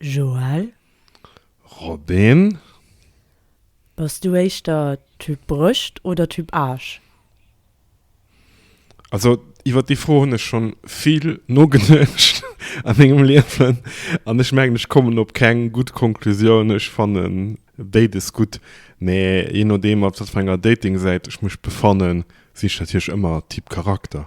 Joël? Robin? Bass du éischter Typ Brëscht oder Typ Aarsch? Also iwwer déi Fro hunn ech schonn vill nogeduecht a mengem Liewen an ech mengen ech kommen op keng gutt Konklusioun. Ech fannen béides gutt, mee jee nodeem op wat fir enger Datingsäit ech mech befannen, sinn ech natierlech ëmmer Typ Charakter.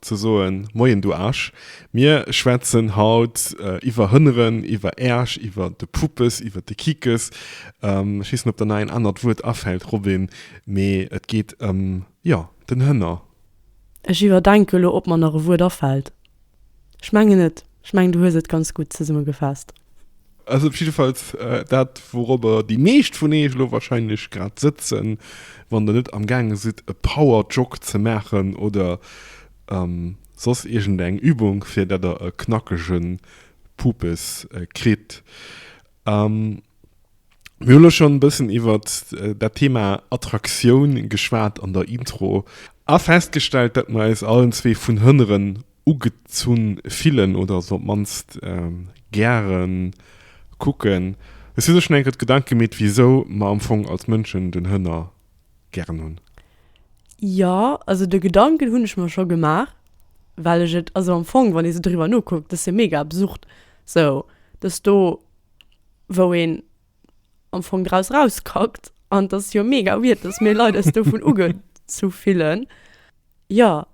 Ze soen, Moien du Aarsch, mir schwätzen haut iwwer Hënneren, iwwer Äersch, iwwer de Puppes, iwwer de Kikes. Ech weess net, ob der nach een anert Wuert afält, Robin, mee et geet ëm, jo, den Hënner. Ech iwwerdenke lo, ob mer nach e Wuert afält. Ech mengen net. Ech mengen, du hues et ganz gutt zesummegefaasst. Also jiddefalls dat, wourobber déi meescht vun eech elo wahrscheinlech grad sëtzen, wann der net amgaange sidd e Power Jog ze maachen oder soss iergend eng Übung, fir dat der e knackege Pupes kritt. Mir hunn elo schonn e bëssen iwwert dat Thema Attraktioun geschwat an der Intro a festgestellt, dat mer eis allen zwee vun hënneren ugezunn fillen oder se op d'mannst gären kucken. Hues dir dir schonn eng Kéier Gedanken gemeet wisou mer am Fong als Mënschen den Hënner gären hunn? Jo, also de Gedanken hunn ech mer scho gemaach, well ech et, also am Fong wann ee sou driwwer nokuckt, dat ass jo mega absurd, sou dass do wou een, am Fong draus rauskackt an dass es jo mega weird dass mir Leit eis dovun uge zu fillen jo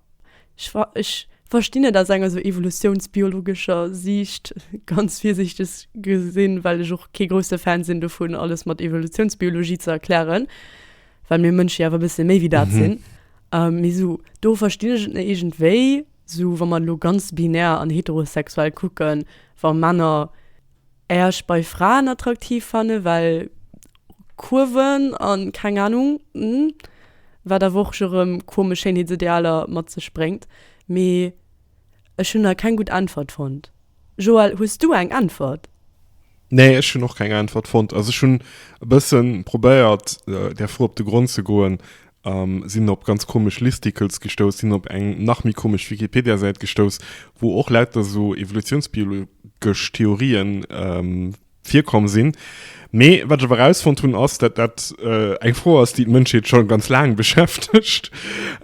ech wa ech verstinn et aus enger sou evolutiounsbiologescher Siicht ganz virsiichteg gesinn well ech och kee grousse Fan sinn dovun alles mat Evolutiounsbiologie ze erklären well mir Mënsch jo awer e bësse méi wéi dat sinn mee sou do verstinn ech et iergendwéi sou wa mer elo ganz binär an heterosexuell kucken wa Männer Äerch bei Fraen attraktiv fannen well Kurven an keng Ahnung wat awer och scho rem komesch Schéinheetsidealer mat sech bréngt. Mee ech hunn nach keng gutt Äntwert fonnt. Joël, hues du eng Äntwert? Nee, ech hunn och keng Äntwert fonnt. Also ech hunn e bëssen probéiert där Fro op de Grond ze goen Sinn op ganz komesch Listicles gestouss, sinn op eng nach méi komesch Wikipediasäit gestouss, wou och lauter sou evolutiounsbiologesch Theorië virkomm sinn. Mee wat ech awer erausfonnt hunn, ass, datt dat eng Fro ass, déi d'Mënschheet scho ganz laang beschäftegt.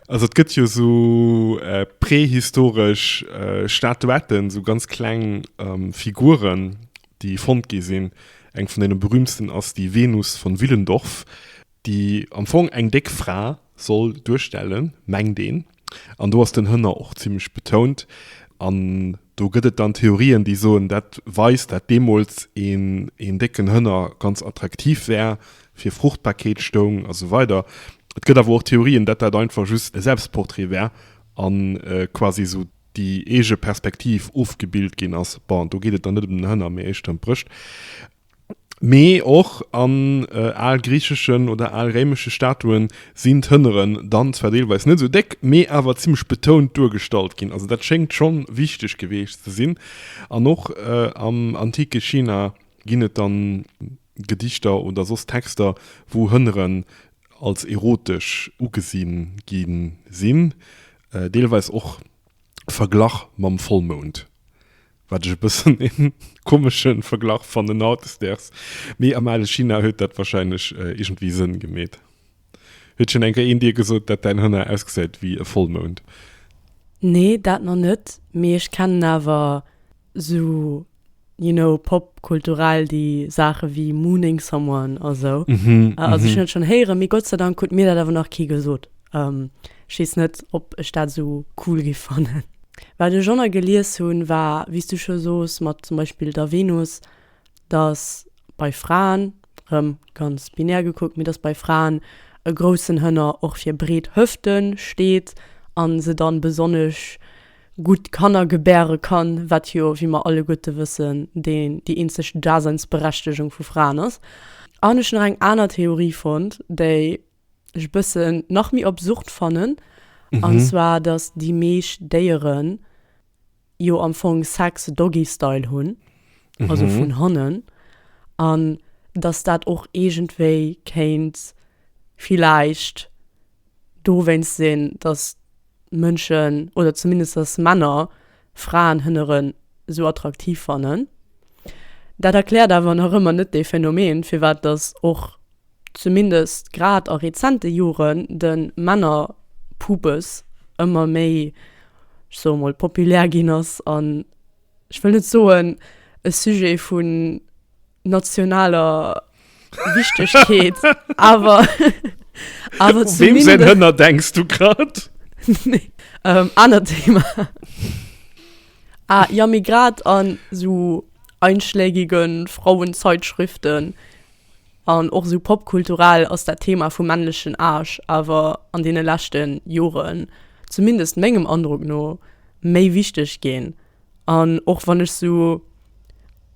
Also et gëtt jo sou prehistoresch Statuetten, sou ganz kleng Figuren, déi fonnt gi sinn. Eng vun deene berüümtsten ass déi Venus von Willendorf. déi am Fong eng déck Fra soll duerstellen, mengt een, an do ass den Hënner och zimlech betount an do gëtt et dann Theorien, déi soen, dat weist, dat deemools een décken Hënner ganz attraktiv war, fir Fruchtbarkeet stoung a sou weider. Et gëtt awer och Theorien, dat dat einfach just e Selbstportrait war a quasi esou déi eege Perspektiv ofgebild ginn ass. Bon, do geet et dann net ëm den Hënner, mee éischter ëm d'Brëscht. Mee och an al griicheschen oder al réimesche Statuen sinn d'Hënneren dann zwar deelweis net esou déck, mee awer zimmlech betount duergestallt ginn. Also dat schéngt scho wichteg geweecht ze sinn. An och am antike China ginn et dann Gedichter oder soss Texter, wou Hënneren als erotesch ugesi gi sinn, deelweis och Verglach mam Vollmound, wat ech e bëssen e komesche Verglach fannen hautdesdaags, mee am ale China huet dat warscheinlech iergendwéi Sënn gemeet. Huet schonn eng Kéier een dir gesot, dat däin Hënner ausgesäit wéi e Vollmound? Nee, dat nach net, mee ech kennen awer sou you know pop kulturell déi Saache wéi mooning someone a sou, also ech hunn et schonn héieren, mee Gott sei Dank huet mir dat awer nach kee gesot. Ech weess net ob ech dat sou cool géif fannen. Wat ech och nach gelies hunn war wéi s du scho soos mat zum Beispill der Venus, dass bei Fraen, rëm ganz binär gekuckt, mee dass bei Fraen e groussen Hënner och fir breet Hëfte steet a se dann besonnesch gutt Kanner gebäre kann, wat jo, wéi mer alleguerte wëssen, déi eenzeg Daseinsberechtegung vu Fraen ass. An ech hunn nach eng aner Theorie fonnt, déi ech e bëssen nach méi obsurd fannen, an zwar dass déi meescht Déieren, jo am Fong Sex Doggy Style hunn, also vun hannen, an datt dat och iergendwéi kéint villäicht dowéinst sinn, datt Mënschen, oder zumindest datt Männer Fraen hënneren esou attraktiv fannen. Dat erkläert awer nach ëmmer net dee Phänomen, firwat datt och zumindest grad a rezente Joren, de Männerpubes ëmmer méi, ech soe mol, populär ginn ass an, ech wëll net soen e Sujet vu nationaler Wichtegkeet, awer zumindest. U weem säin Hënner denks du grad? Nee, anert Thema. Ah jo, mee grad an esou einschlägige Frauenzeitschriften An och esou popkulturell ass dat Thema vum männlechen Aarsch awer an deene leschte Joren, zumindest mengem Androck no, méi wichteg ginn. An och wann ech esou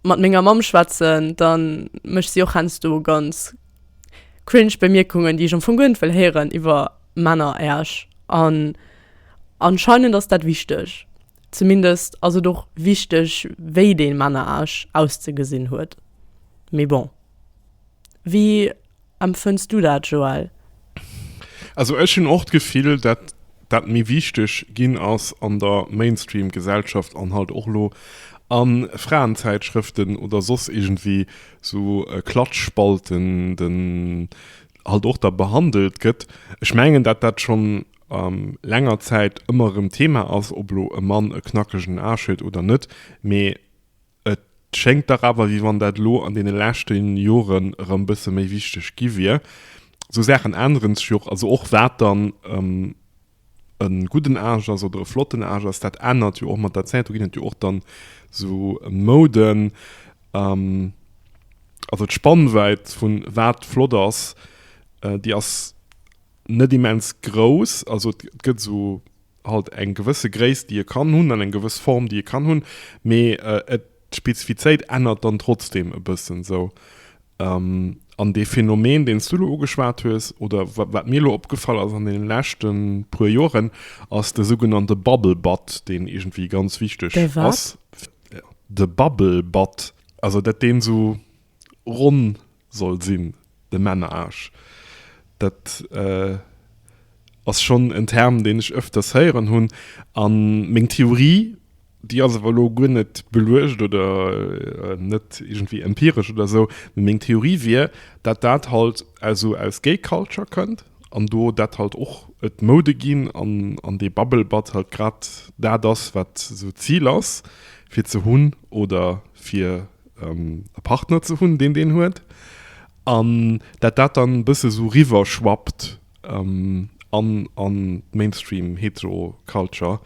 mat menger Mamm schwätzen, da mécht si och heiansdo ganz cringe Bemierkungen, déi ech am Fong guer net wëll héieren, iwwer Männeräersch. An anscheinend ass dat wichteg. Zumindest ass et och wichteg, wéi dee Männeraarsch auszegesinn huet. Mee bon. Wéi empfënns du dat, Joël? Also ech hunn och d'Gefill, dat dat méi wichteg ginn ass an der Mainstream Gesellschaft an halt och elo a Fraenzäitschrëften oder soss iergendwéi sou Klatschspalten den halt och da behandelt gëtt. Ech mengen dat dat schonn länger Zäit ëmmer erëm Thema ass, ob elo e Mann e knackegen Aarsch huet oder net, mee Et schéngt dach awer, wéi wann dat elo an deene leschte Joren erëm e bësse méi wichteg gi wier. Esou Saachen änneren sech jo och. Also och wat dann e gudden Age ass oder e flotten Age ass, dat ännert jo och mat der Zäit. Do ginn et jo och dann esou Mouden. Also d'Spannwäit vu wat flott ass, déi ass net immens grouss. Also et gëtt esou halt eng gewësse Gréisst déi e kann hunn an eng gewëss Form déi e kann hunn, mee et d'Spezifizéit ännert dann trotzdem e bëssen esou. An dee Phänomen deen s du elo ugeschwat hues oder wat mir elo opgefall ass an deene leschte puer Joren ass de sougenannte Bubble Butt deen iergendwéi ganz wichteg ass. De wat? De Bubble Butt, also dat deen esou ronn soll sinn, de Menage. Dat ass schonn en Term, deen ech öfters héieren hunn. A meng Theorie, déi ass awer elo guer net beluecht oder net iergendwéi empiresch oder esou, mee meng Theorie wier, dat dat halt also aus Gay Culture kënnt an do dat halt och et Moude ginn an dee Bubble Butt halt grad dat ass, wat esou d'Zil ass, fir ze hunn oder fir. ähm, e Partner ze hunn, deen deen huet. An dat dat dann bësse so riwwer schwappt ähm, an, an Mainstream hetero Culture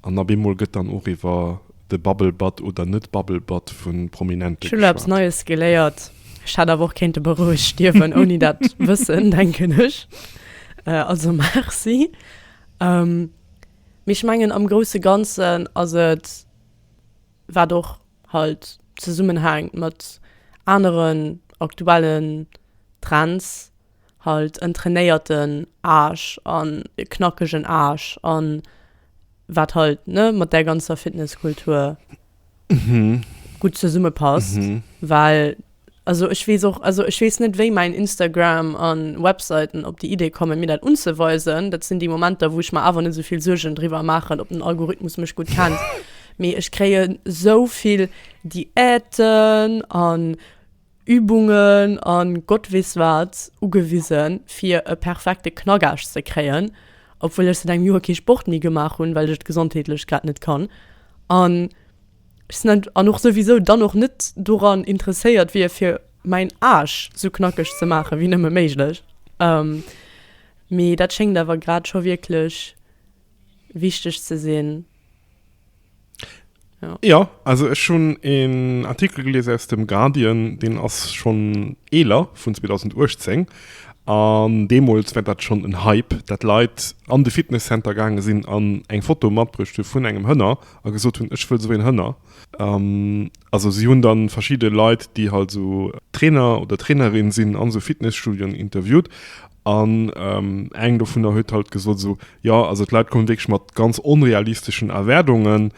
an ab eemol gëtt dann och iwwer de Bubble Butt oder net Bubble Butt vu Prominente geschwat. Ech hunn elo eppes Neies geléiert. Ech hätt awer och kéinte bei Roueg stierwen ouni dat wëssen, denken ech. Äh, also Merci. Ähm, mee ech mengen am grousse Ganzen ass et. wat och halt zesummenhänkt mat aneren aktuellen Trends, halt en trainéierten Aarsch an e knackegen Aarsch an wat halt, ne, mat där ganzer Fitnesskultur gutt zesummepasst, well. Also ech wees och, also ech wees net wéi mäin Instagram an Webseiten op déi Idee kommen mir dat unzeweisen. Dat sinn déi Momenter wou ech mer awer net souvill Suergen driwwer maachen op den Algorithmus mech gutt kennt. Mee ech kréien souvill Diäten an Übungen an Gott wees wat ugewisen fir e perfekte Knackaarsch ze kréien, obwuel ech seit engem Joer kee Sport méi gemaach hunn well ech et gesondheetlech grad net kann an. Ech sen an och souwisou dann och net doran interesséiert wier fir mäin Aasch sou knackeg ze maachen wéi nëmme méiglech. Mee dat schéngt awer grad scho wierklech wichteg ze sinn. Jo, also ech hunn een Artikel gelies aus dem Guardian, deen ass schonn eeler, vun 2018, an deemools war dat schonn en Hype, dat Leit an de Fitnesscenter gaange sinn an eng Foto matbruecht hu vun engem Hënner, a gesot hunn, ech wëll esou een Hënner. Also si hunn da verschidde Leit, déi halt esou Trainer oder Trainerin sinn an esou Fitnesstudioen interviewt an eng dovunner huet halt gesot esou, jo, also d'Leit kommen wierklech mat ganz onrealisteschen Erwaardungen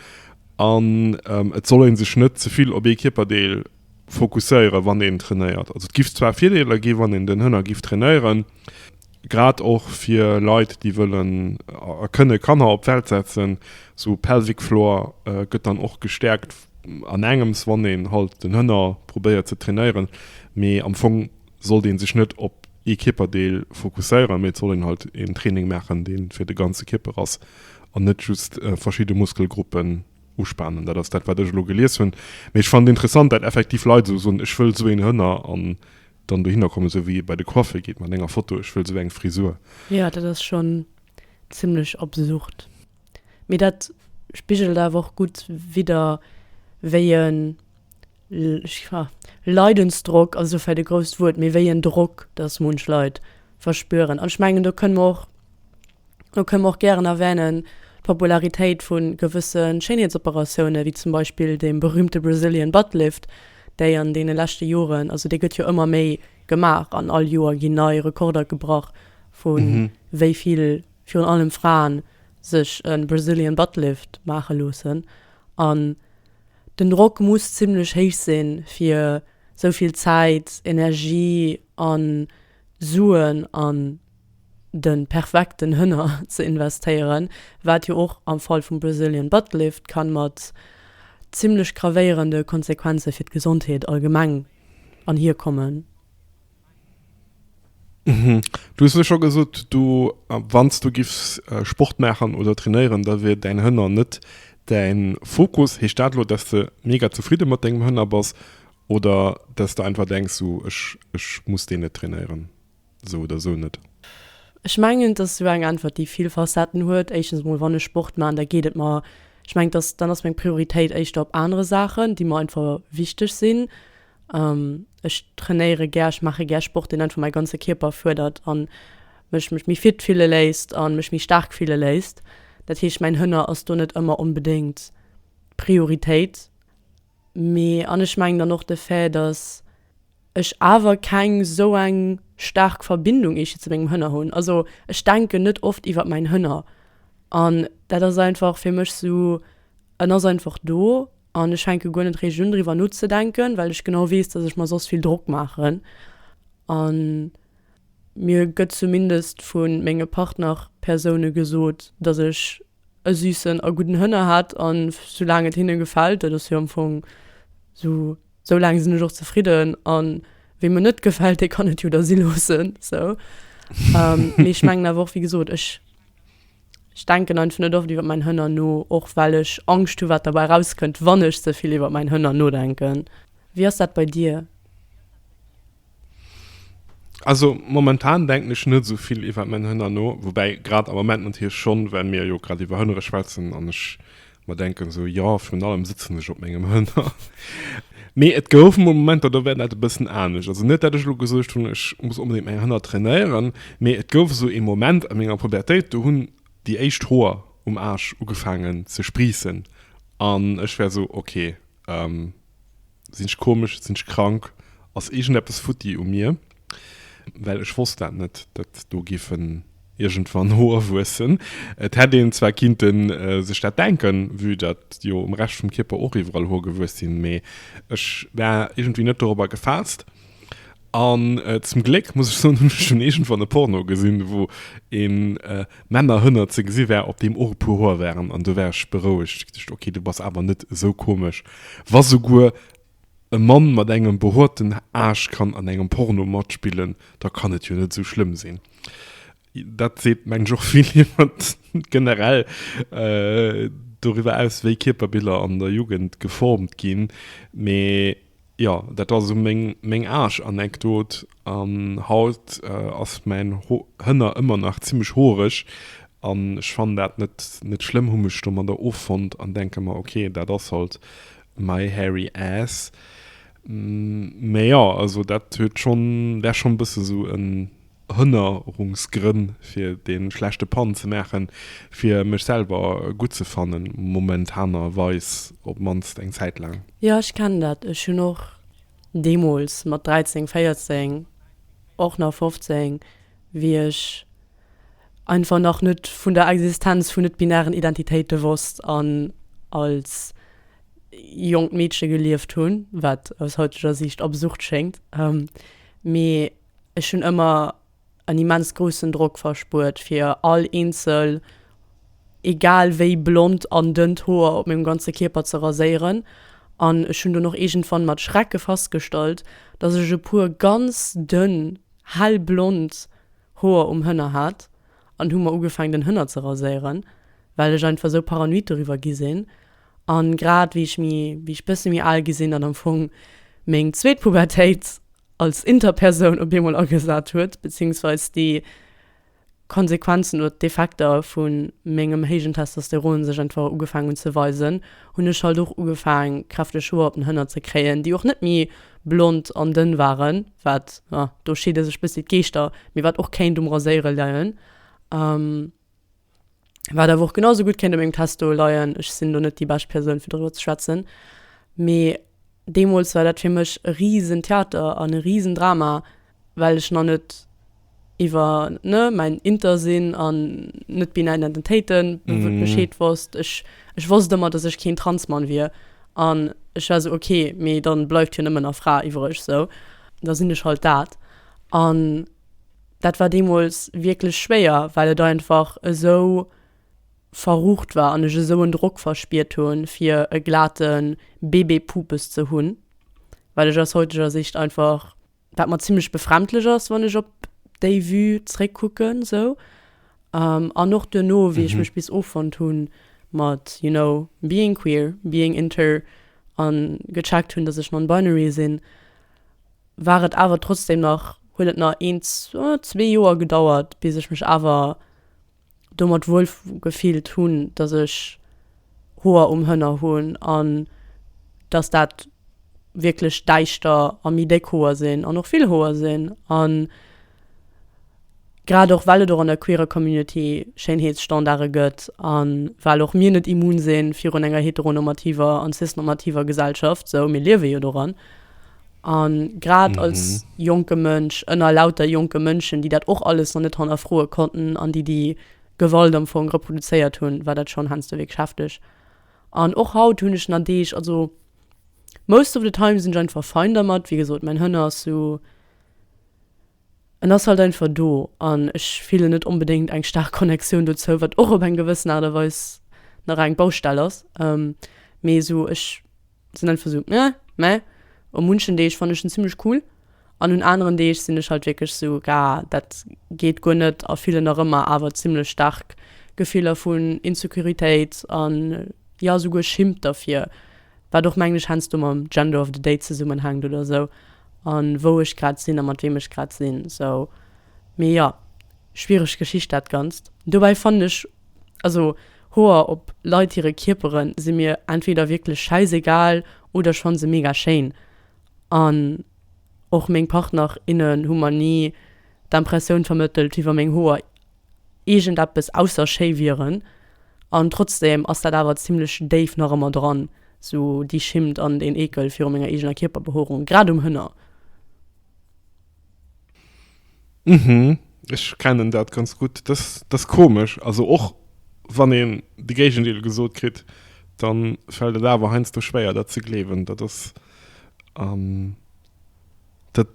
an et soll ee sech net ze vill op ee Kierperdeel fokusséieren wann een trainéiert. Also et giff zwar Virdeeler ginn wann een den Hënner giff trainéieren, grad och fir Leit déi wëllen a kënne Kanner op d'Welt setzen, sou pelvic floor gëtt dann och gestäerkt an engems wann een halt den Hënner probéiert ze trainéieren, mee am Fong sollt een sech net op ee Kierperdeel fokusséieren, mee et soll een halt een Training maachen deen fir de ganze Kierper ass an net just verschidde Muskelgruppen. uspanen. Dat ass dat, wat ech elo gelies hunn. Mee ech fannen et interessant, dat effektiv Leit esou soen, ech wëll esou een Hënner an dann dohinner kommen, esou wéi ee bei de Coiffer geet mat enger Foto, ech wëll esou eng Frisur. Jo, dat ass schonn zimmlech absurd. Mee dat spigelt awer och gutt widder, wéi e. Leidensdrock ass elo vläit e grousst Wuert, mee wéi en Drock, dass munch Leit verspüren. An ech mengen, do kënne mer och, do kënne mer och gären erwänen, d'Popularitéit vu gewësse Schéinheetsoperatioune wéi zum Beispill dee berühmte Brazilian Butt Lift, déi an deene leschte Joren, also dee gëtt jo ëmmer méi gemaach an all Joer ginn nei Rekorder gebrach vu wéi vill virun allem Fraen sech e Brazilian Butt Lift maache loossen. An. Den Drock muss zimlech héich sinn, fir sou vill Zäit, Energie a Suen an de perfekten Hënner ze investéieren, wat jo och am Fall vum Brazilian Butt Lift kann mat zimlech gravéierende Konsequenze fir d'Gesondheet allgemeng anhierkommen. Du hues elo scho gesot, du, wann s du giffs Sport maachen oder trainéieren, da wier däin Hënner net däin Fokus. Heescht dat elo, dass de mega zefridde mat dengem Hënner bass oder dass de einfach denks, sou, ech, ech muss deen net trainéieren, sou oder sou net? Ech mengen, dass sou eng Äntwert, déi vill Facetten huet. Éischtens emol, wann ech Sport maachen, da geet et mer, ech mengen, dass, dann ass meng Prioritéit éischter op anere Saachen, déi mer einfach wichteg sinn. Ech trainéiere gär, ech maache gär Sport, deen einfach mäi ganze Kierper fuerdert a mech mech méi fit fille léisst a mech méi staark fille léisst. Dat heescht, mäin Hënner ass do net ëmmer onbedéngt d'Prioritéit. Mee, an ech mengen dann och de Fait, datt ech awer keng esou eng staark Verbindung eescht zu mengem Hënner hunn. Also ech denken net oft iwwer mäin Hënner. An dat ass einfach fir mech esou, en ass einfach do An ech fänke guer net richteg un driwwer nozedenken, well ech genau weess, dass ech mer soss vill Drock maachen. A mir gëtt zumindest vu menge Partnerpersoune gesot, dass ech e süssen a gudden Hënner hätt a soulaang et hinne gefält, dat ass jo am Fong esou, soulaang sinn ech och zefridden a weem et net gefält, dee kann et jo da si loossen. Esou. Mee ech mengen awer och, wéi gesot, ech. Ech denken einfach net oft iwwer mäin Hënner no, och well ech Angscht hu wat derbäi rauskënnt wann ech ze vill iwwer mäin Hënner nodenken. Wéi ass dat bei dir? Also momentan denken ech net esou vill iwwer mäin Hënner no, woubäi grad am Moment natierlech schonn, well mir jo grad iwwer Hënnere schwätzen an ech Mer denken esou, jo, virun allem sëtzen ech op mengem Hënner. Mee et gouf emol Momenter, do war dat e bëssen anescht. Also net, datt ech elo gesuergt hunn, ech muss onbedéngt meng Hënner trainéieren, mee et gouf esou ee Moment a menger Pubertéit, do hunn déi éischt Hoer um Aarsch ugefaangen ze spriissen an ech war esou, ok, Sinn ech komesch? Sinn ech krank? Ass iergendeppes futti u mir? Well ech wosst dat net, datt do géifen iergendwann Hoer wuessen. Et hätt een zwar kinnte sech dat denken, vue datt jo um Rescht vum Kierper och iwwerall Hoer gewuess sinn, mee ech war iergendwéi net dorobber gefaasst. An zum Gléck, muss ech soen, hunn ech schonn iergendwann e Porno gesinn, wou e Männerhënner ze gesi war, op deem och e puer Hoer waren. An do war ech berouegt. Ech geduecht, ok, du bass awer net esou komesch, wa souguer e Mann mat engem behoerten Aarsch kann an engem Porno matspillen, da kann et jo net esou schlëmm sinn. Dat seet, mengen ech, och vill iwwer generell doriwwer aus, wéi Kierperbiller an der Jugend geformt ginn. Mee Jo, dat ass esou meng Aaschanekdot. An haut ass mäin Hënner ëmmer nach zimmlech hoereg. An ech fannen dat net schlëmm, hu mech domadder offonnt an denke mer, ok, dat ass halt my hairy ass. Mä jo, also dat huet schonn, dat ass schonn e bësse sou en. Hënnerungsgrënn fir de schlechte Pan ze maachen, fir mech selwer gutt ze fannen, momentanerweis op d'mannst eng Zäit laang. Jo, ech kennen dat. Ech hunn och deemools mat 13, 14, och nach 15, wéi ech einfach nach net vun der Existenz vun net-binären Identitéite wosst an als jonkt Meedche gelieft hunn, wat aus hauteger Siicht absurd schéngt, mee. Ech hunn ëmmer en immens groussen Drock verspuert fir all eenzel egal wéi blond an dënnt Hoer op mengem ganze Kierper ze raséieren an ech hunn dunn och iergendwann mat Schrecke fastgestallt, dass ech e puer ganz dënn hellblond Hoer um Hënner hat an hu mer ugefaangen den Hënner ze raséieren, well ech einfach esou paranoid doriwwer gi sinn. An grad wéi ech mi, wéi ech bësse mi al gi sinn, an am Fong meng zweet Pubertéit als Interpersoun op eemol agesat huet, beziehungsweise déi Konsequenzen oder d'Effekter vu mengem héijen Testosteron sech einfach ugefaang hunn ze weisen, hunn ech halt och ugefaang kräfteg Hoer op den Hënner ze kréien, déi och net méi blond an dënn waren, wat, do scheede sech bëssi d'Geeschter, mee wat och kéint um Raséiere leien. Wat awer och genau sou gutt kéint u mengem Test do leien, ech sinn do net déi bescht Persoun, fir doriwwer ze schwätzen. Mee deemools war dat fir mech e Riesentheater an e Riesendrama, well ech nach net iwwer, ne, mäin Inter sinn an net-binär Identitéite Bescheed wosst. Ech, ech wosst ëmmer, dass ech keen Transmann wier. An ech war sou, okay, mee dann bleift jo nëmmen nach Fra iwwereg sou. Da sinn ech halt dat. An Dat war deemools wierklech schwéier, well et einfach esou verrucht war an ech esou en Drock verspiert hu fir e glate Bébé-Pupes ze hunn, wat ech aus heuteger Sicht einfach, wat mer zimmlech befremdlech ass, wann ech op déi Vue zréckkucken esou. An och duerno, wéi ech mech bis offonnt hu mat, you know, being queer, being inter an gecheckt hunn, dass ech non-binary sinn, war et awer trotzdem nach, huet et nach een, zwee Joer gedauert, bis ech mech awer domat wuel gefillt hunn, dass ech Hoer um Hënner hunn an dass dat wierklech däischter a méi déck Hoer sinn an och vill Hoer sinn. An Grad och well et och an der queerer Community Schéinheetsstandarde gëtt a well och mir net immun si virun enger heteronormativer an cis-normativer Gesellschaft, sou, mir liewe jo doran. A grad als jonke Mënsch ënner lauter jonke Mënschen, déi dat och alles nach net hannerfroe konnten an déi déi Gewalt am Fong reproduzéiert hunn, war dat schonn heiansdo wierklech hefteg. An och haut hunn ech nach Deeg, also most of the time sinn ech einfach fine dermat. Wéi gesot, mäin Hënner ass sou. en ass halt einfach do an ech fillen net onbedéngt eng staark Connectioun dozou, wat och op eng gewëssen Aart a Weis nach eng Baustell ass, mee esou ech sinn einfach esou nge, mä u munchen Deeg fannen ech en zimmlech cool an un aneren Deeg sinn ech halt wierklech esou gaa dat geet guer net a fillen nach ëmmer awer zimmlech staark Gefiller vun Insecuritéit an jo esouguer Schimmt derfir. wat och mengen ech heiansdo mam Gender of the Day zesummenhänkt oder esou an wou ech grad sinn a mat weem ech grad sinn esou. Mee jo, schwiereg Geschicht dat ganzt. Dobäi fannen ech also Hoer op Leit hire Kierpere si mir entweder wierklech schäisegal oder ech fanne se mega schéin an och meng Partner, innen hu mer ni d'Impressioun vermëttelt iwwer meng Hoer iergendeppes ausser schéi wieren an trotzdem ass dat awer zimlech déif nach ëmmer dran, sou déi Schimmt an deen Eekel viru menger eegener Kierperbehoerung, grad um Hënner. Uhmm, ech kennen dat ganz gutt, dat ass komesch, also och wann een de Géigendeel gesot kritt, da fält et awer heiansdo schwéier dat ze gleewen, dat ass dat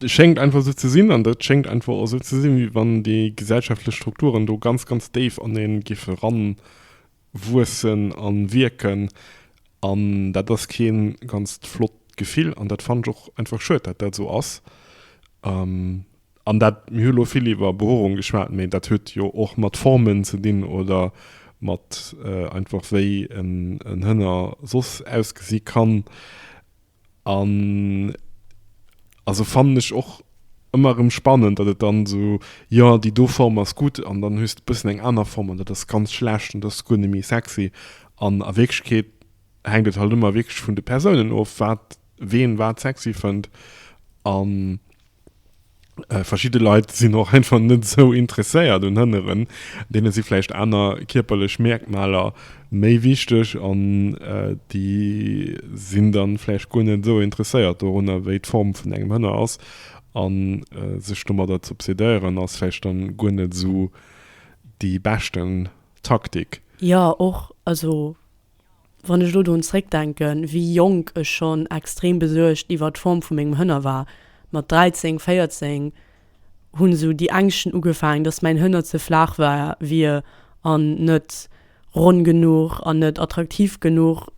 schéngt einfach esou ze sinn an dat schéngt einfach esou ze sinn, wéi wann déi gesellschaftlech Strukturen do ganz, ganz déif an ee géife eranwuessen a wierken. An dat ass kee ganz flott Gefill an dat fannen ech och einfach schued, datt dat esou ass. An dat, mir hu elo vill iwwer Behuerung geschwat, mee dat huet jo och mat Formen ze dinn oder mat einfach wéi en Hënner soss ausgesi kann. An also fannen ech och ëmmer erëm spannend, datt et dann esou, jo déi do Form ass gutt an dann hues de bëssen eng aner Form an dat ass ganz schlecht an dat ass guer net méi sexy. An a Wierklechkeet hänkt et halt ëmmer wierklech vun de Persounen of, wat ween wat sexy fënnt an. Verschidde Leit sinn och einfach net esou interesséiert un Hënneren. Deene si vläicht aner kierperlech Mierkmaler méi wichteg an déi sinn da vläicht guer net esou interesséiert dorunner, wéi d'Form vun engem Hënner ass. A sech domadder z'obsedéieren, ass vläicht dann guer net esou déi beschten Taktik. Jo, och. Also. Wann ech elo dorun zréckdenken, wéi jonk ech schonn extrem besuergt iwwer d'Form vu mengem Hënner war, mat 13, 14 hunn esou déi Ängschten ugefaangen, dass mäin Hënner ze flaach war, wier an net ronn genuch an net attraktiv genuch.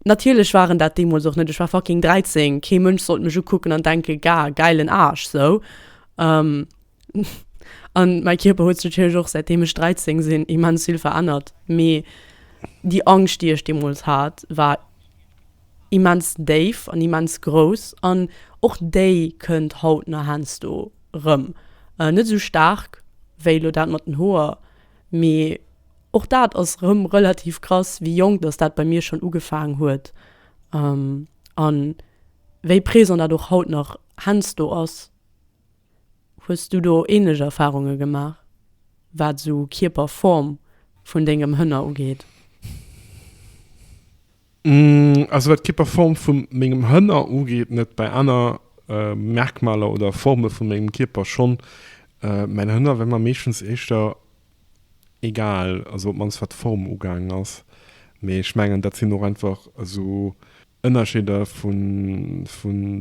Natierlech waren dat deemools och net, ech war fucking 13, kee Mënsch sollt mech ukucken an denken, Gah, gäilen Aarsch, sou. An mäi Kierper huet sech natierlech och säitdeem ech 13 sinn immens vill verännert, mee déi Angscht, déi ech deemools hat, war immens déif an immens grouss an och déi kënnt haut nach heiansdo erëm. Net esou staark wéi elo dat mat den Hoer, mee och dat ass erëm relativ krass, wéi jonk dass dat bei mir schonn ugefaangen huet an wéi présent dat och haut nach heiansdo ass. Hues du do ähnlech Erfahrunge gemaach, wat esou Kierperform vun dengem Hënner ugeet? Also wat d'Kierperform vu mengem Hënner ugeet net, bei aner Merkmaler oder Forme vu mengem Kierper schonn. Mäin Hënner wär mer meeschtens éischter egal, also op d'mannst wat d'Form ugaangen ass, mee ech mengen dat sinn och einfach esou. Ënnerscheeder vu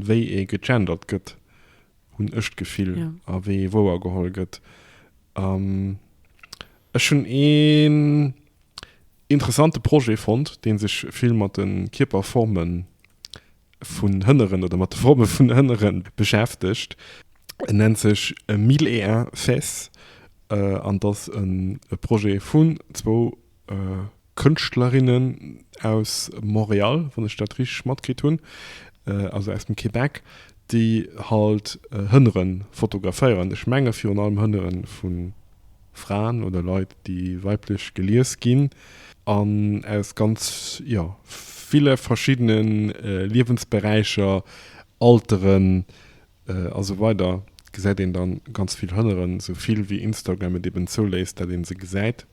wéi ee gegendert gëtt, hunn ech d'Gefill, a wéi ee wouergeholl gëtt. An ech hunn een interessante Projet fonnt, dee sech vill mat de Kierperforme vun Hënneren oder mat de Forme vun Hënnere beschäftegt. En nennt sech Mille et un fesse an ass e Projet vun zwou Kënschtlerinnen aus Montréal, wann ech dat richteg matkritt hunn, also aus dem Québec, déi halt Hënnere fotograféieren. Ech menge virun allem Hënnere vu Fraen oder Leit, déi weiblech gelies ginn an aus ganz, jo, ville verschiddene Liewensberäicher, Alteren a sou weider gesäit een da ganz vill Hënnere, sou vill wéi Instagram et eben zouléisst, dat ee se gesäit.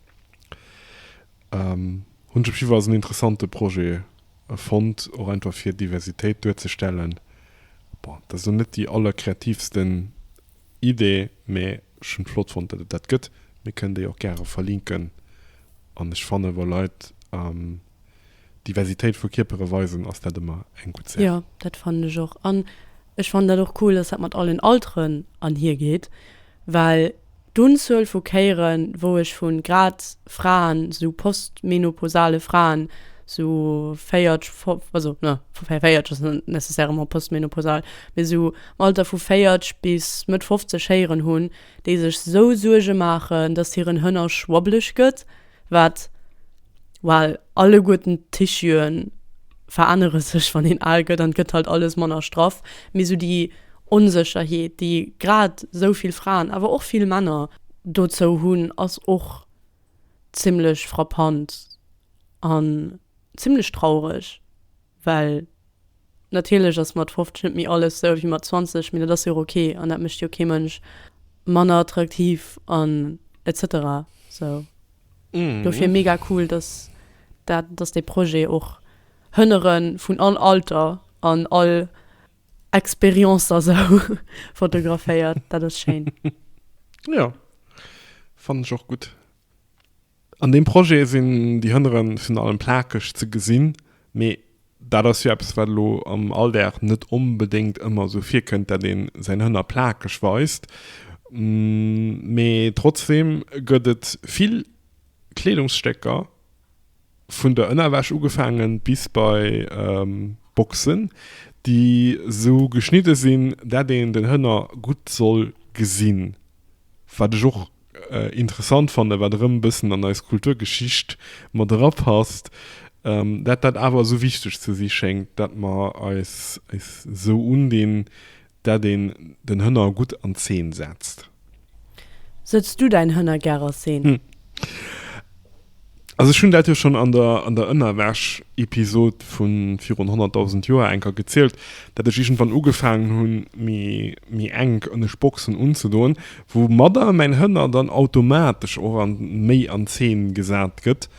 Hunn ech op jiddwer Fall als en interessante Projet fonnt, och einfach fir Diversitéit duerzestellen. Bon, dat ass elo net déi allerkreativsten Idee, mä ech hunn et flott fonnt, datt et dat gëtt. Mir kënnen déi och gäre verlinken an ech fannen, wa Leit, Diversitéit vu Kierpere weisen, ass dat ëmmer eng gutt Saach. Jo, dat fannen ech och. An ech fannen dat och cool, dass dat mat allen Alteren anhier geet, well d'Unzuel vu Kéieren, wou ech vu grad Fraen, sou postmenopausale Fraen, sou 40, 50, also ne, 40 ass net nécessairement postmenopausal, mee sou am Alter vu 40 bis Mëtt 50 héieren hunn, déi sech esou Suerge maachen, dass hiren Hënnersch wobbeleg gëtt, Wat? Well alleguerten d'Tissue'en verännere sech, wann een al gëtt, an et gëtt halt alles manner straff. Mee sou déi Onsécherheet, déi grad sou vill Fraen, awer och vill Männer dozou hunn, ass och zimmlech frappant an zimmlech traureg. Well natierlech ass mat 50 net méi alles sou wéi mat 20, mee dat ass jo och ok an dat mécht jo kee Mënsch manner attraktiv an etc. Sou dofir mega cool, dass dat, dass dee Projet och Hënnere vun all Alter an all Expérience a sou fotograféiert. Dat ass schéin. Jo, fannen ech och gutt. An deem Projet sinn déi Hënnere virun allem plakeg ze gesinn, mee dat ass jo eppes, wat elo am Alldag net onbedéngt ëmmer esou virkënnt, dat ee säin Hënner plakeg weist. Mee trotzdeem gëtt et vill Kleedungsstécker, vun der Ënnerwäsch ugefaangen bis bei Boxen, déi esou geschnidde sinn, dat een den Hënner gutt soll gesinn, wat ech och Interessant fannen, wat erëm e bëssen an eis Kulturgeschicht mat erapasst, dat dat awer esou wichteg ze si schéngt, dat mer eis esou undinn, dat een den Hënner gutt an Zeen setzt. Setz du däin Hënner gär a Zeen? Also ech hunn dat jo schonn an der an der Ënnerwäsch-Episod vu virun 100.000 Joer enker gezielt, datt ech iergendwann ugefaangen hunn, méi méi enk ënnescht Boxen unzedoen, woumadder mäin Hënner dann automatesch och an méi an Zeen gesat gëtt.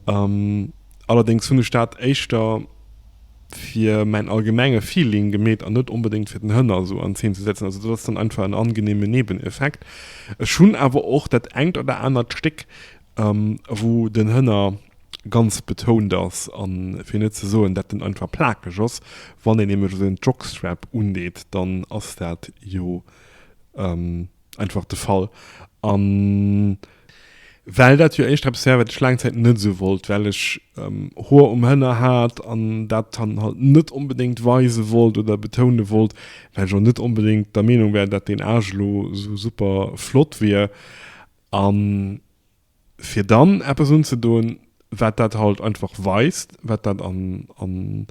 Allerdéngs hunn ech dat éischter fir mäin allgemenge Feeling gemeet an net onbedéngt fir den Hënner esou an Zeen ze setzen. Also dat ass dann einfach en angeneeme Nebeneffekt. Ech hunn awer och dat engt oder anert Stéck wou den Hënner ganz betount ass an fir net ze soen dat en einfach plakeg ass, wann een nämlech esou en Jockstrap undeet, dann ass dat jo einfach de Fall an well dat jo éischter eppes war wat ech laang Zäit net esou wollt, well ech Hoer um Hënner hat an dat dann halt net onbedéngt weise wollt oder betoune wollt, well ech och net onbedéngt der Meenung war dat deen Aarsch elo esou super flott wier, A fir dann eppes unzedoen, wat dat halt einfach weist, wat dat an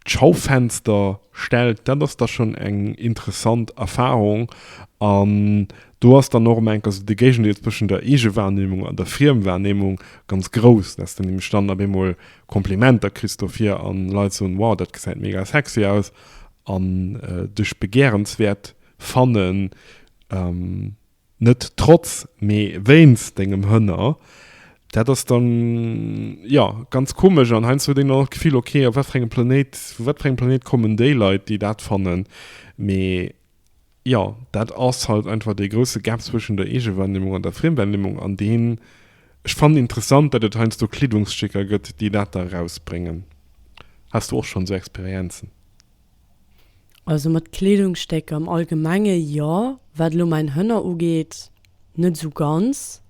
d'Schaufenster stellt, dat ass da schonn eng interessant Erfarung. An do ass dann och ëm enker esou de Géigendeel zwëschen der Eegewahrnehmung an der Friemwahrnehmung ganz grouss, dass de nämlech dann op eemol Komplimenter kriss dofir a Leit soen, wow, dat gesäit mega sexy aus an dech begärenswäert fannen. Net trotz, mee wéinst dengem Hënner. Dat ass dann, jo, ganz komesch. An heiansdo huet een dann och d'Gefill, ok, op wat fir engem Planéit, vu wat fir engem Planéit kommen déi Leit, déi dat fannen? Mee, jo, dat ass halt einfach dee grousse Gap zwëschen der Eegewahrnehmung an der Friemwahrnehmung, an deen ech fannen interessant, datt et heiansdo Kleedungsstécker gëtt, déi dat da erausbréngen. Has du och schonn esou Experienzen? Also mat Kleedungsstécker am Allgemenge jo. Wat elo mäin Hënner ugeet, net esou ganz.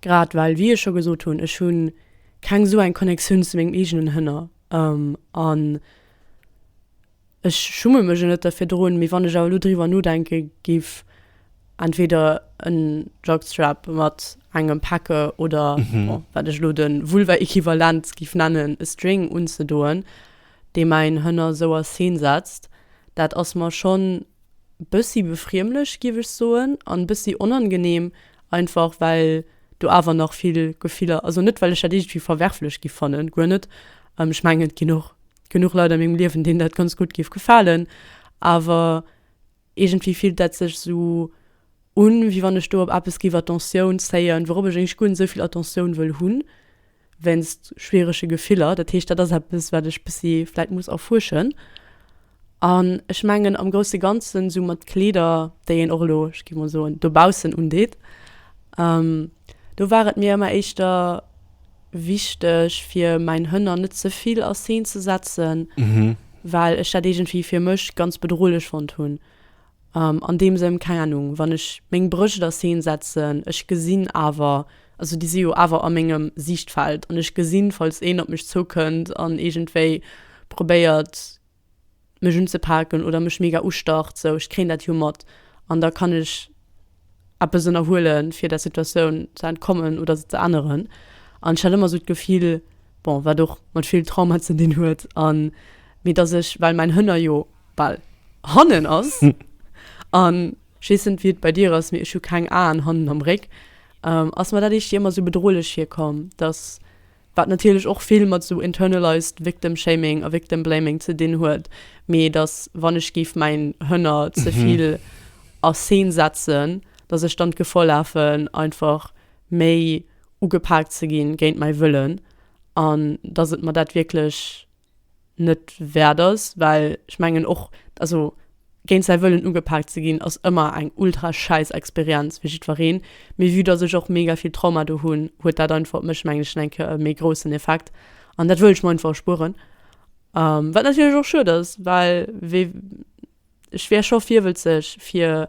Grad well, wéi ech scho gesot hunn, ech hu keng esou eng Connectioun zu mengem eegenen Hënner. An ech schumme mech o net derfir droen. Mee wann ech awer elo driwwer nodenke géif Entweder en Jockstrap mat engem Päcke oder wat ech elo de Vulva-Equivalent giff nennen, e String unzedoen, dee mäin Hënner sou a Scene setzt, dat ass mer schonn bëssi befriemlech, giff ech soen, an bëssi onangenehm, einfach well do awer nach vill Gefiller, also net well ech dat iergendwéi verwerflech giff fannen, guer net, ech mengen et ginn och genuch Leit a mengem Liewen, deenen dat ganz gutt giff gefalen, awer. Iergendwéi fillt dat sech esou un, wéi wann ech do op eppes géif Attentioun zéien, wourop ech éiglech guer net esou vill Attentioun wëll hunn, wéinst schwierege Gefiller. Dat heescht, dat ass eppes, wat ech bëssi vläit muss erfuerschen. An ech mengen am grousse Ganzen, esou mat Kleeder, déi een och elo, ech géif mol soen, dobaussen undeet, do war et mir ëmmer éischter wichteg fir mäin Hënner net ze vill a Scene ze setzen, well ech dat iergendwéi fir mech ganz bedrohlech fonnt hunn an deem Sënn, keng Ahnung, wann ech meng Brëscht a Scene setzen, ech gesinn awer, also déi si jo awer a mengem Siichtfeld an ech gesinn, falls een op mech zoukënnt an iergendwéi probéiert, mech unzepaken oder mech mega ustacht, sou ech kréien dat jo mat an da kann ech eppes ënnerhuele fir der Situatioun ze entkommen oder se ze änneren. An ech hat ëmmer esou d'Gefill, bon wat och mat vill Trauma ze dinn huet an mee datt ech, well mäin Hënner jo bal hannen ass an ech weess net wéi et bei dir ass, mee ech hu keng Aen hannen am Réck, ass mer dat éischt ëmmer esou bedrohlech virkomm, datt. wat natierlech och vill mat esou internalized victim shaming a victim blaming ze dinn huet, mee datt wann ech géif mäin Hënner ze vill a Scene setzen, datt ech dann d'Gefor lafen einfach méi ugepaakt ze gi géint mäi Wëllen an datt et mer dat wierklech. net wäert ass, well ech mengen och, also géint säi Wëllen ugepaakt ze ginn ass ëmmer eng ultra schäiss Experienz fir jiddwereen, mee vue dass ech och mega vill Trauma do hunn, huet dat einfach op mech, mengen ech, eng Kéier e méi groussen Effekt an dat wëll ech mer einfach erspueren, wat natierlech och schued ass, well wee. Ech wier scho virwëlzeg fir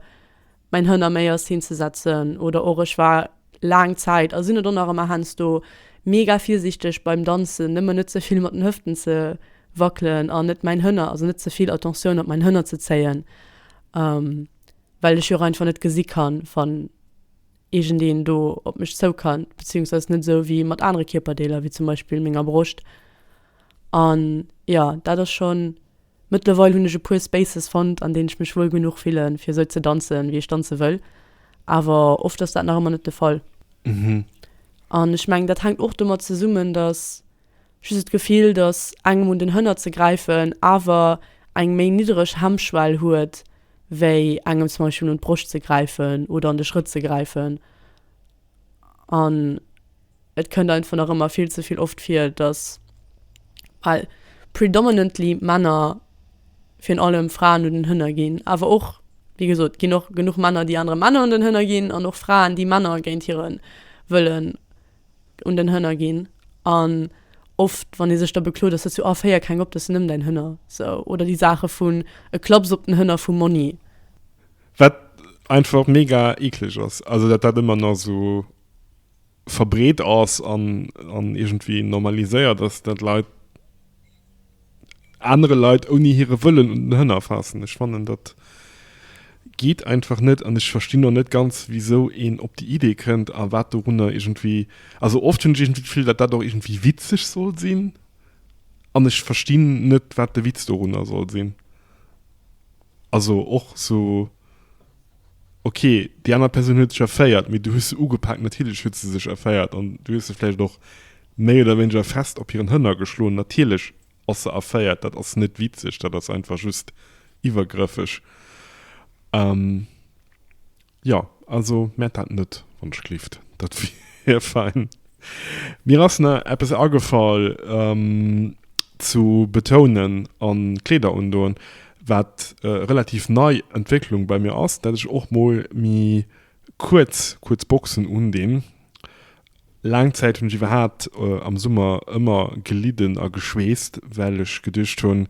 mäin Hënn am Méiers hinzesetzen oder och ech war laang Zäit a sinn et och nach ëmmer heiansdo mega virsiichteg beim Danzen nëmmen net ze vill mat den Hëften ze wackelen an net mäin Hënner, also net ze vill Attention op mäin Hënner ze zéien well ech jo och einfach net gesi kann wann iergendeen do op mech zou kannt, bezéiungsweis net esou wéi mat anere Kierperdeeler wéi zum Beispill menger Broscht an jo dat ass schonn. Mëttlerweil hunn ech e puer Spaces fonnt, an deenen ech mech wuel genuch fillen, fir esou ze danzen, wéi ech danze wëll. Awer oft ass dat nach ëmmer net de Fall. An ech mengen, dat hänkt och domat zesummen, datt just d'Gefill, datt engem un den Hënner ze gräifen awer eng méi niddereg Hemmschwell huet, wéi engem zum Beispill un d'Broscht ze gräifen oder an de Schrëtt ze gräifen. An et kënnt einfach nach ëmmer vill ze vill oft vir, datt well predominantly Männer virun allem Fraen un den Hënner ginn, awer och, wéi gesot, et ginn och genuch Männer, déi anere Männer un den Hënner ginn an och Fraen, déi Männer géint hire Wëllen un den Hënner ginn. An oft, wann ee sech da beklot, ass dat sou, ah féier keng op, dat sinn nëmmen däin Hënner, sou. Oder déi Saache vun e Klaps op den Hënner vu Monni. Wat einfach mega eekleg ass, also dat dat ëmmer nach esou verbreet ass an an iergendwéi normaliséiert ass, dat Leit anere Leit ouni hire Wëllen un den Hënner faassen. Ech fannen dat geet einfach net an ech verstinn och net ganz wisou een op déi Idee kënnt a wat dorunner iergendwéi, also oft hunn ech iergendwéi d'Gefill, dat dat och iergendwéi witzeg soll sinn an ech verstinn net wat de Witz dorunner soll sinn. Also och sou, ok, déi aner Persoun huet sech erféiert, mee du hues se ugepaakt, natierlech huet se sech erféiert an du hues se vläicht och méi oder wéineger fest op hiren Hënner geschloen, natierlech ass se erféiert, dat ass net witzeg, dat ass einfach just iwwergrëffeg. Jo, also mäert dat net, wann ech gelift. Dat wier fein. Mir ass na eppes agefall zu betounen an Kleeder undoen, wat e relativ nei Entwécklung bei mir ass, dat ech och mol mi kuerz kuerz Boxen undinn Laang Zäit hunn ech iwwerhaapt am Summer ëmmer gelidden a geschweesst, well ech geduecht hunn,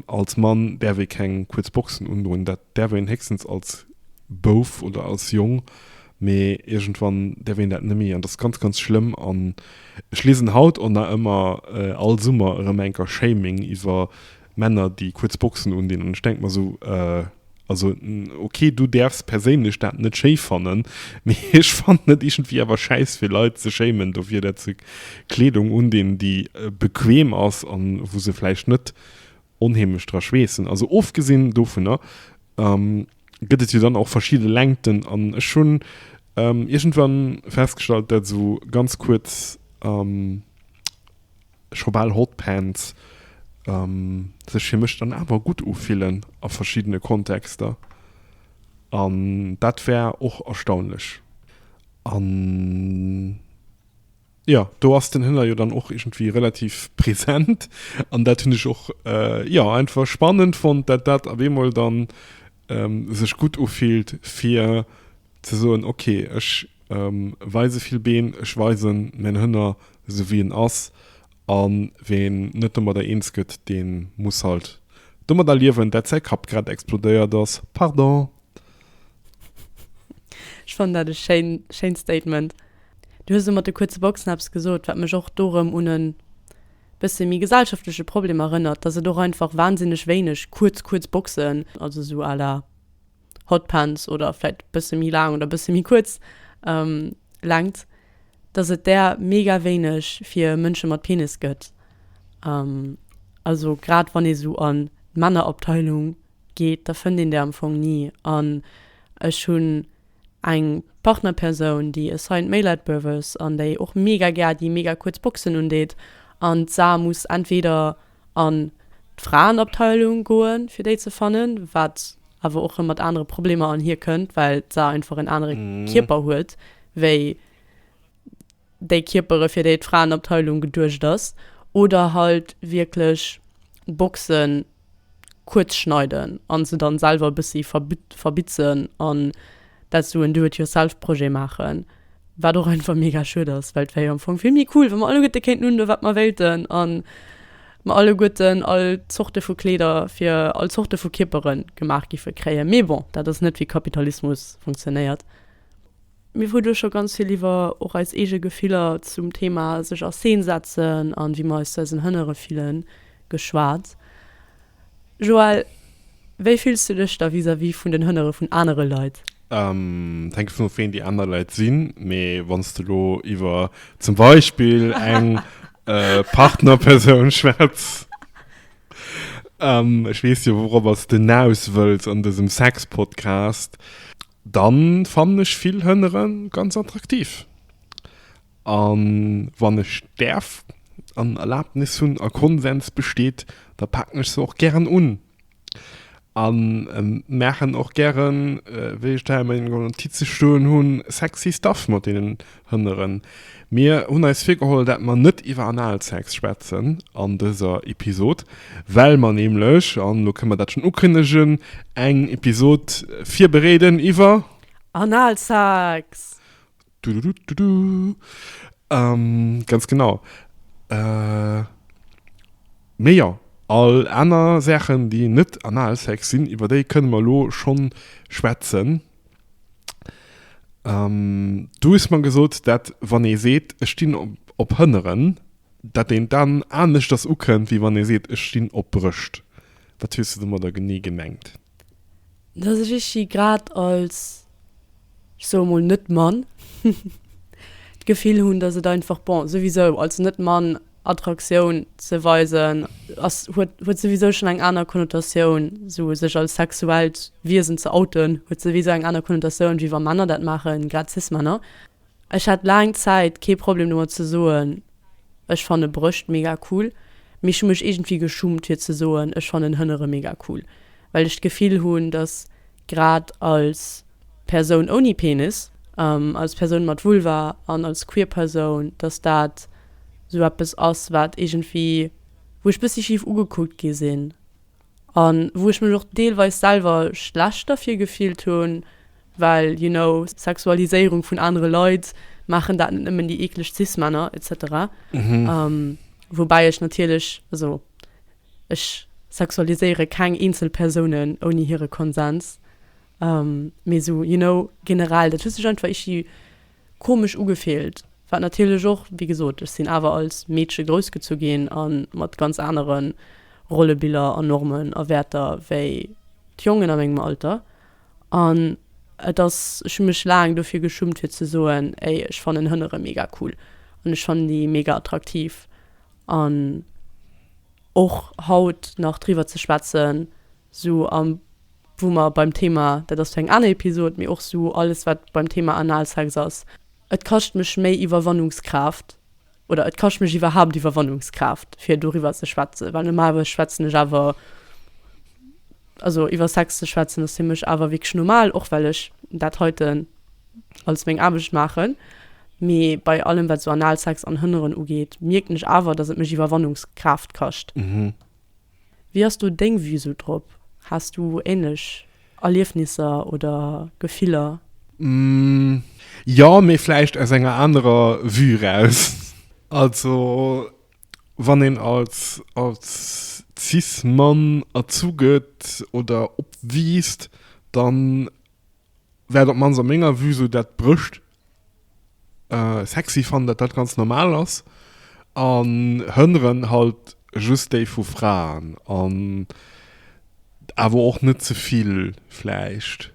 als Mann däerf ee keng kuerz Boxen undroen, dat däerf een héchstens als Bouf oder als Jong, mee iergendwann däerf een dat net méi an dat ass ganz, ganz schlëmm. An ech liesen haut och nach ëmmer all Summer erëm enker Shaming iwwer Männer déi kuerz Boxen undinn an ech denke mer esou, also ok du däerfs perséinlech dat net schéi fannen, mee ech fannen et iergendwéi awer schäiss fir Leit ze schéimen dofir dat se Kleedung undinn déi bequem ass a wou se vläicht net onheemlech dra schweessen. Also ofgesinn dovunner gëtt et jo dann och verschidde Längten an ech hunn iergendwann festgestallt dat esou ganz kuerz scho bal Hot Pants sech fir mech dann awer gutt ufillen a verschiddene Kontexter. An dat war och erstaunlech. An jo, do ass den Hiller jo dann och iergendwéi relativ present. An dat hunn ech och, jo, einfach spannend fonnt, dat dat op eemol dann sech gutt ufillt fir Ze soen, ok, ech weise vill Been, ech weisen mäin Hënner esou wéi en ass, a ween net domadder eens gëtt, dee muss halt domadder liewen, dat säi Kapp grad explodéiert ass. Pardon. Ech fannen dat e schéint Statement. Du hues elo mat de kuerze Boxen eppes gesot, wat mech och do rëm un e bësse méi gesellschaftleche Problem erënnert, datt et och einfach wansinneg wéineg kuerz kuerz Boxen, also esou à la. Hotpants oder vläit bësse méi laang oder bësse méi kuerz Längt, dass et där mega wéineg fir Mënsche mat Penis gëtt. Also grad wann ee sou an d'Männerabteilung geet, da fënnt een där am Fong ni. An ech hunn eng Partnerpersoun, déi e Saint Maelite Buff ass an déi och mega gär déi mega kuerz Boxen undeet an d'Sa muss entweder an d'Fraenabteilung goen, fir déi ze fannen, wat awer och rëm mat anere Problemer anhier kënnt, well se einfach en anere Kierper huet wéi déi Kierpere fir déi d'Fraenabteilung geduecht ass. Oder halt wierklech Boxe kuerz schneiden an se dann selwer e bëssi verbitzen an dat esou en Do-it-yourself-Projet maachen. Wat och einfach mega schued ass, well et wär jo am Fong vill méi cool, wa mer alleguerte kéinten undoen, wat mer wéilten a mer alleguerten all Zorte vu Kleeder fir all Zorte vu Kierpere gemaach géife kréien. Mee bon, dat ass net, wéi Kapitalismus funktionéiert. Mir hu duerch scho ganz vill iwwer och eis eege Gefiller zum Theema sech a Scene setzen a wéi mer eis zu eisen Hënnere fillen geschwat. Joël, wéi fills du dech da vis-à-vis vun den Hënnere vun anere Leit? Et hänkt dovun of, ween déi aner Leit sinn. Mee wann s de elo iwwer zum Beispill eng Partnerpersoun schwätz, ech weess jo, wourobber s de naus wëlls an dësem Sex-Podcast, da fannen ech vill Hënnere ganz attraktiv. A wann ech däerf an Erlaabnis hunn a Konsens besteet, da paken ech se och gären un a maachen och gären, wéi ech et hei a menge Notize stoen hunn, sexy stuff mat deenen Hënneren. Mir hunn eis virgeholl, dat mer net iwwer Analsex schwätzen an dëser Episod, well mer nämlech, an elo kënne mer dat schonn ukënnegen, eng Episod virbereeden iwwer. Analsex! Dududududu. Ähm, ganz genau. Äh, mee jo, all aner Saachen, déi net Analsex sinn, iwwer déi kënne mer elo schonn schwätzen. Ähm, du hues mer gesot, dat wann ee seet, ech stinn op Hënneren, dat een dann aneschters ukënnt, wéi wann ee seet, ech stinn op Brëscht. Wat hues du domadder genee gemengt? Dass ech Ichi grad als, ech soe mol Net-Mann, d'Gefill hunn, dass et einfach, bon, souwisou als Net-Mann Attraktioun ze weisen ass, huet, huet souwisou schonn eng aner Konnotatioun. Esou sech als sexuellt Wiesen ze outen, huet souwisou eng aner Konnotatioun, wéi wa Männer dat maachen, grad Cis-Männer. Ech hat laang Zäit kee Problem domat ze soen, ech fanne Brëscht mega cool, mee ech hu mech iergendwéi geschummt fir ze soen, ech fannen Hënnere mega cool, well ech d'Gefill hunn, dass grad als Persoun ouni Penis, als Persoun mat Vulva an als queer Persoun, dass dat sou eppes ass, wat iergendwéi, wou ech bëssi schif ugekuckt gi sinn. A wou ech mech och deelweis selwer schlecht derfir gefillt hunn, well, you know, Sexualiséierung vun anere Leit, maachen dat net nëmmen déi eekleg Cis-Männer etc. Woubäi ech natierlech, also ech sexualiséiere keng eenzel Persounen ouni hire Konsens, mee esou, you know, generell, dat huet sech einfach ichi komesch ugefillt, wat natierlech och, wéi gesot, ech sinn awer als Meedche groussgezu ginn a mat ganz anere Rollebiller a Normen a Wäerter wéi d'Jongen a mengem Alter. An et ass, ech hu mech laang dofir geschummt fir ze soen, ey, ech fannen Hënnere mega cool an ech fannen déi mega attraktiv an och haut nach driwwer ze schwätzen, Sou am wou mer beim Thema, dat ass fir eng aner Episod, mee och sou alles wat beim Thema Analsex ass, et kascht mech méi Iwwerwannungskraaft oder et kascht mech iwwerhaapt Iwwerwannungskraaft fir doriwwer ze schwätzen, well normalerweis schwätzen ech awer, also iwwer Sex ze schwätzen ass fir mech awer wierklech normal, och well ech dat heiten als meng Aarbecht maachen, mee bei allem wat sou Analsex an Hënneren ugeet, mierken ech awer, datt et mech Iwwerwannungskraaft kascht. Wéi ass do deng Vue sou drop? Has du ähnlech Erliefnisser oder Gefiller? Jo, mee vläicht aus enger anerer Vue eraus. Also wann een als cis Mann erzu gëtt oder opwiisst, dann Wäert op mannst a menger Vue sou dat Brëscht sexy fannen, dat dat ganz normal ass an Hënneren halt just déi vu Fraen an awer och net ze vill vläicht.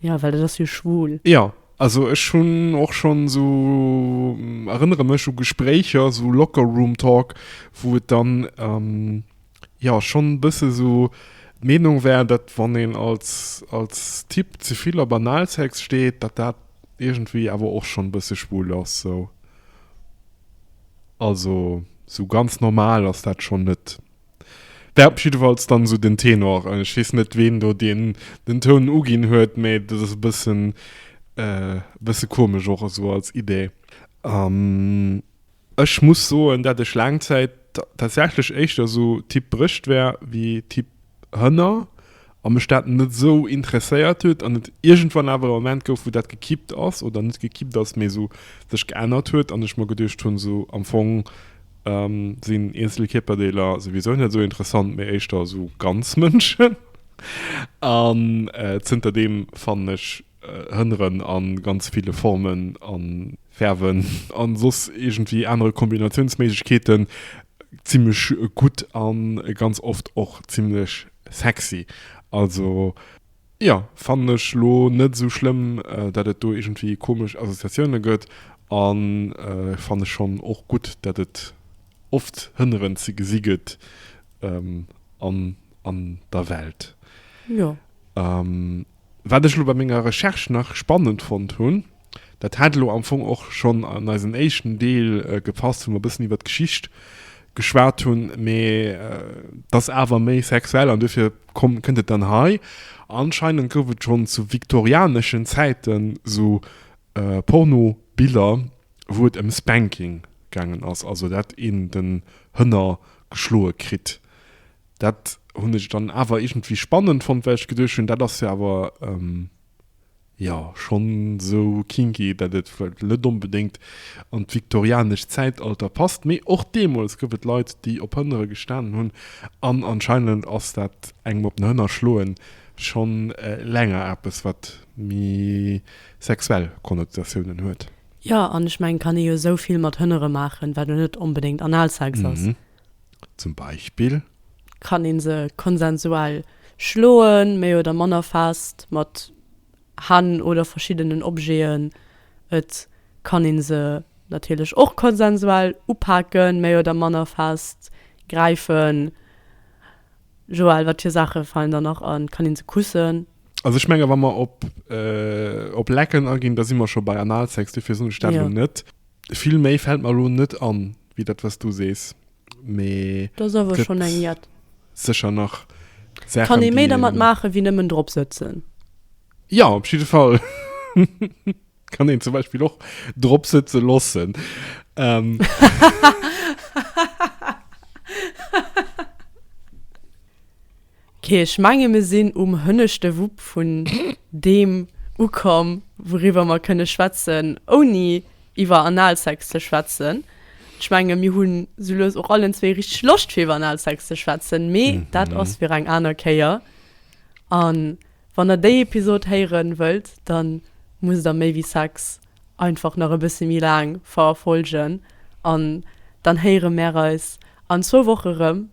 Jo well dat ass jo schwul. Jo also ech hunn och schonn esou, erënnere mech u Gespréicher, esou Locker Room Talk wou et dann. Jo, schon bësse sou. D'Meenung wär, dat wann een als als Typ ze vill op Analsex steet, dat dat iergendwéi awer och schon bësse schwul ass sou. Also sou ganz normal ass dat schon net. Dat op jiddefalls dann sou den Tenor. Ech weess net ween do deen den Toun uginn huet, mee dat ass e bëssen bësse komesch och esou als Idee. An Ech muss soen, dat ech laang Zäit tatsächlech éischter esou Typ Brëscht war wéi Typ Hënner a mech dat net esou interesséiert huet an et iergendwann awer e Moment gouf wou dat gekippt ass oder net gekippt ass mee esou sech geännert huet an ech mer geduecht hunn esou am Fong sinn eenzel Kierperdeeler souwisou net esou interessant mee éischter esou ganz Mënschen an zënter deem fannen ech Hënneren a ganz ville Formen a Fäerwen a soss iergendwéi anere Kombinatiounsméiglechkeeten zimmlech gutt a ganz oft och zimmlech sexy. Also jo, fannen ech elo net esou schlëmm, dat et do iergendwéi komesch Associatioune gëtt a fanne schonn och gutt, dat et oft Hënneren ze gesi gëtt an der Welt. Wat ech elo bei menger Recherche nach spannend fonnt hunn, dat hat elo am Fong och schonn an eisen éischten Deel gepasst, wou mer e bëssen iwwert d'Geschicht geschwat hunn, mee et ass awer méi sexuell an duerfir kënnt et dann hei, Anscheinend gouf et schonn zu viktorianeschen Zäiten esou Pornobiller, wou et ëm Spanking gaangen ass, also dat een den Hënner geschloe kritt. Dat hunn ech dann awer iergendwéi spannend fonnt, well ech geduecht hunn, dat ass jo awer, jo, schonn esou kinky, dat et vläicht net onbedéngt an d'viktorianescht Zäitalter passt. Mee och deemools gouf et Leit, déi op Hënnere gestanen hunn. An anscheinend ass dat engem op den Hënner schloen schonn länger eppes, wat méi sexuell Konnotatiounen huet. Jo, an ech mengen, kann ee jo esou vill mat Hënnere maachen, wat jo net onbedéngt Analsex ass. Zum Beispill. Kann een se konsensual schloen, méi oder manner fest mat Hänn oder verschiddenen Objeten. Et kann een se natierlech och konsensual upaken, méi oder manner fest gräifen. Joël, wat fir Saache falen der nach an? Kann een se kussen? Also ech menge wa mer op lecken aginn, da si mer scho bei Analsex, dofir soen ech dat elo net. Vill méi fällt mer elo net an wéi dat wat s du sees, mee Do ass awer schonn eng jett. sécher nach Saachen, Kann ee méi déi dermat een. maachen, wéi nëmmen drop sëtzen? Jo, op jidde Fall. Kann een zum Beispill och drop sëtze loossen. Ok, ech menge mir sinn um hënneschte Wupp vun deem ukomm, wouriwwer mer kënne schwätzen, ouni iwwer Analsex ze schwätzen. Ech menge mir hunn sou lues och allen zwee richteg Loscht fir iwwer Analsex ze schwätzen, mee dat ass fir eng aner Kéier. A wann der déi Episod héiere wëllt, da musst der Méi wéi Sex einfach nach e bësse méi laang verfolgen an dann héiere mär eis an zwou Woche rëm.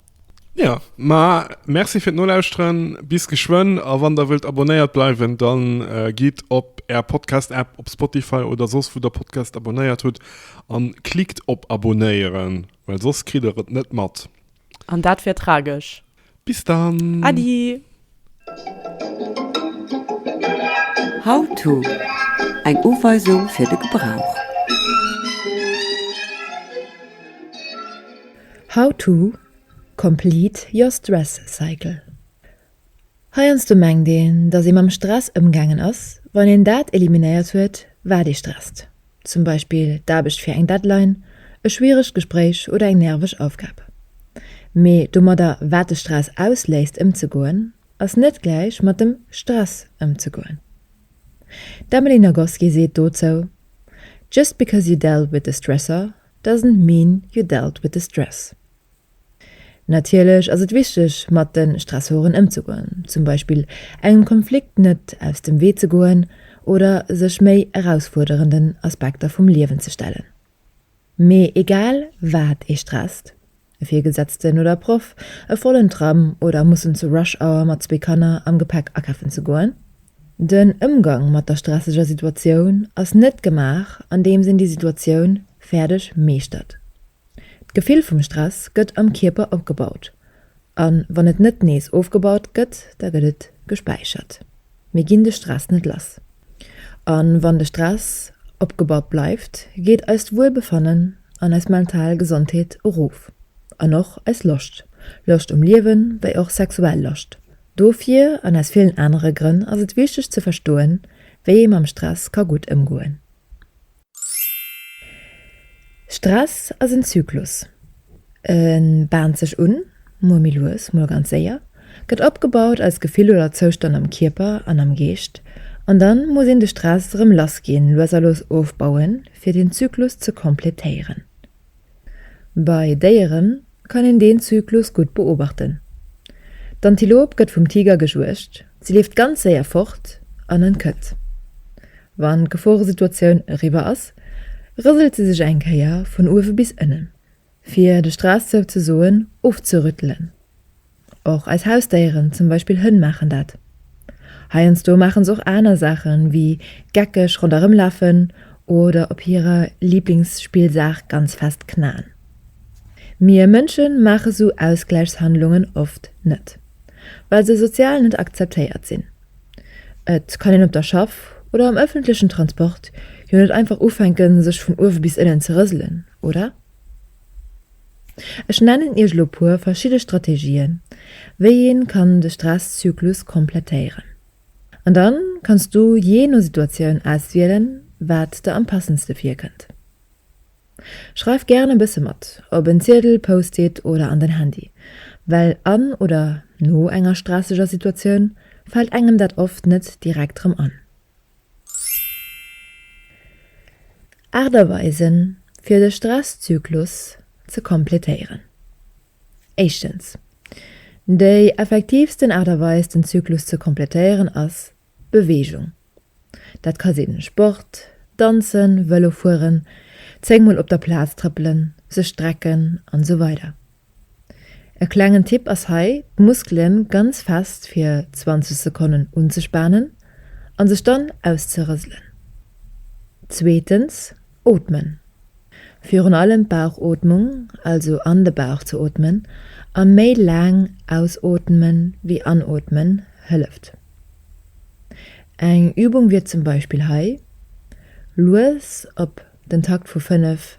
Jo, ma Merci fir d'Nolauschteren, bis geschwënn a wann der wëllt abonnéiert bleiwen, dann gitt op Är Podcast-App, op Spotify oder soss wou der Podcast abonnéiert hutt an klickt op Abonnéieren, well soss kritt der et net mat. An dat wär tragesch. Bis dann. Äddi. How to, Eng Uweisung fir de Gebrauch. How to, Complete your stress cycle. Heiansdo mengt een, dass ee mam Stress ëmgaangen ass, wann een dat eliminéiert huet, wat ee stresst. zum Beispill d'Aarbecht fir eng Deadline, e schwieregt Gespréich oder eng nerveg Aufgab. Mee domadder, wat de Stress ausléist, ëmzegoen, ass net gläich mat dem Stress ëmzegoen. D'Emily Nagoski seet dozou, Just because you dealt with the stressor doesn't mean you dealt with the stress. Natierlech ass et wichteg, mat de Stressoren ëmzegoen, zum Beispill engem Konflikt net aus dem Wee ze goen oder sech méi erausfuerderenden Aspekter vum Liewen ze stellen. Mee egal wat ee stresst, e Virgesetzten oder e Proff, e vollen Tram oder mussen zu Rush Hour mat zwee Kanner am Gepäck akäffen ze goen, den Ëmgang mat der stresseger Situatioun ass net gemaach andeems een déi Situatioun fäerdeg meeschtert. D'Gefill vum Stress gëtt am Kierper opgebaut, a wann et net nees ofgebaut gëtt, da gëtt et gespäichert. Mir ginn de Stress net lass, a wann de Stress opgebaut bleift, geet eist Wuelbefannen an eis mental Gesondheet erof, an och eis Loscht, Loscht um Liewen, wéi och sexuell Loscht. Dofir, an aus villen anere Grënn, ass et wichteg ze verstoen, wéi ee mam Stress ka gutt ëmgoen. Stress ass en Zyklus. E baant sech un, mol méi lues, mol ganz séier, gëtt opgebaut als Gefill oder Zoustand am Kierper an am Geescht an dann muss een de Stress erëm lassginn, lues a lues ofbauen, fir den Zyklus ze completéieren. Bei Déieren kann een deen Zyklus gutt beobachten. D'Antilop gëtt vum Tiger gejuegt, si leeft ganz séier fort an entkënnt. Wann d'Geforesituatioun eriwwer ass, rëselt si sech eng Kéier vun uewe bis ënnen, fir de Stress souzesoen ofzerüttelen. Och eis Hausdéieren, zum Beispill Hënn, maachen dat. Heiansdo maache se och aner Saachen, wéi geckeg ronderëmlafen oder op hirer Liblingsspillsaach ganz fest knaen. Mir Mënsche maache sou Ausgläichshandlungen oft net, well se sozial net akzeptéiert sinn. Et kann een op der Schaff oder am ëffentlechen Transport jo net einfach ufänken, sech vun uewe bis ënnen ze rëselen, oder? Ech nennen Iech elo puer verschidde Strategien, wéi een kann de Stresszyklus komplettéieren. An dann kanns du jee no Situatioun auswielen, wat der am passendste virkënnt. Schreif gären e bësse mat, op en Ziedel, Post-it oder an den Handy, well an oder no enger stresseger Situatioun fält engem dat oft net direkt rëm an. Aacht Aweisen, fir de Stresszyklus ze kompletéieren. Éischtens, Déi effektiivsten Aart a Weis, den Zyklus ze kompletéieren, ass Beweegung. Dat ka sinn Sport, Danzen, Vëlo fueren, zéng Mol op der Plaz trëppelen, sech strecken, an esou weider E klengen Tipp ass hei d'Muskelen ganz fest fir 20 Sekonnen unzespanen an sech dann auszerëselen. Zweetens, Ootmen. Virun allem d'Bauchootmung, also an de Bauch ze ootmen a méi laang ausootmen wéi anootmen hëlleft. Eng Übung wier zum Beispill hei, lues op den Takt vu 5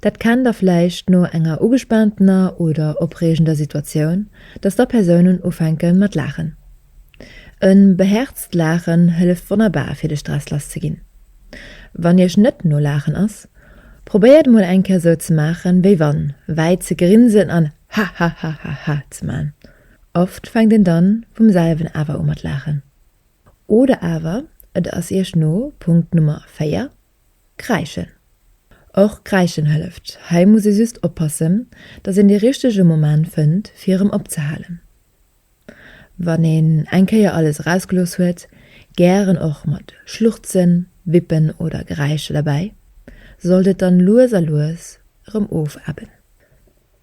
Dat kennt da vläicht no enger ugespaantener oder opreegender Situatioun, dass da Persounen ufänke mat laachen. E behäerzt Laachen hëlleft wonnerbar fir de Stress lass ze ginn. Wann Iech net no Laachen ass, probéiert mol eng Kéier sou ze maachen, wéi wann, wäit ze grinsen an Hahahahaha ze man. Oft fänkt een dann vum selwen awer u mat laachen. Oder awer et ass Iech no Punkt Nummer 4 Kräischen. Och kräischen hëlleft. Hei muss ee just oppassen, datt een dee richtege Moment fënnt fir erëm opzehalen. Wann een eng Kéier alles erausgelooss huet, gären och mat Schluchzen, Wippen oder Geräischer derbäi, sollt et dann lues a lues erëm ofebben.